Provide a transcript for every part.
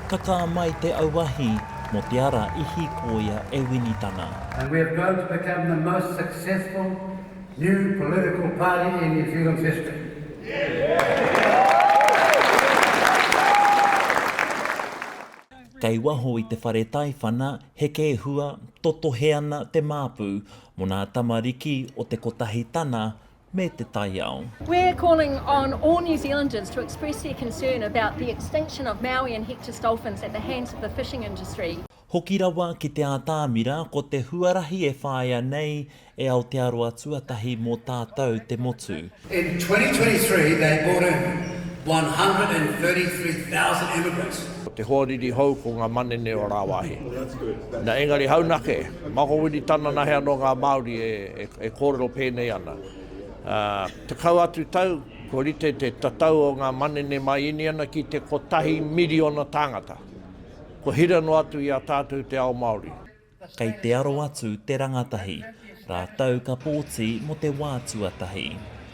Ka kā mai te auahi mō te ara i hīkōia e Winitana. And we have grown to become the most successful new political party in New Zealand's history. Kei waho i te whare taiwhana heke hua totohe ana te māpu mō nā tamariki o te kotahi tana me te taiao. We're calling on all New Zealanders to express their concern about the extinction of Maui and Hector's dolphins at the hands of the fishing industry. Hoki rawa ki te ātamira ko te huarahi e whāia nei e Aotearoa tuatahi mō tātou te motu. In 2023 they brought in 133,000 immigrants. Ko te hoariri hou ko nga manene o rawahi. Na engari haunake. Makowini tana nahe anō ngā Māori e kōrero pēnei ana. Tekau atu tau, kua rite te tatau o ngā manene mai Iniana ki te kotahi miriona tāngata. Kua hira noa atu i a tātou te ao Māori. Kei te aro atu te rangatahi, rātou ka pōti mō te wā tuatahi.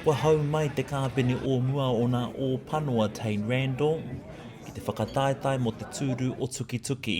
Kua hou mai te kāpene o mua o nā Ōpanoa Tane Randle ki te whakataetae mō te tūru o Tukituki.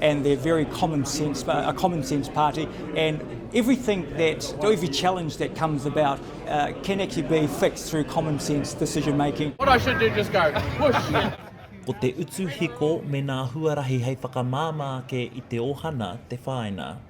and they're very common sense, uh, a common sense party, and everything that, every challenge that comes about uh, can actually be fixed through common sense decision making. What I should do, just go, push. Ko te utu hiko me nā huarahi hei whakamāmā ake i te ohana te whāina.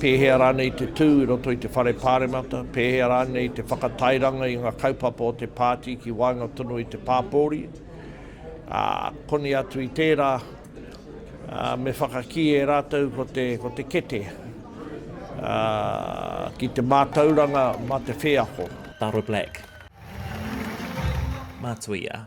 Pēhea rānei te tū i roto i te Whare Pāremata, pēhea rānei te whakatairanga i ngā kaupapa o te pāti ki waenga tonu i te pāpōuri, ā, koni atu i tērā, ā, me whakakī e rātou ko te, ko te kete, ā, ki te mātauranga mā te wheako. Taro Black. Matuia.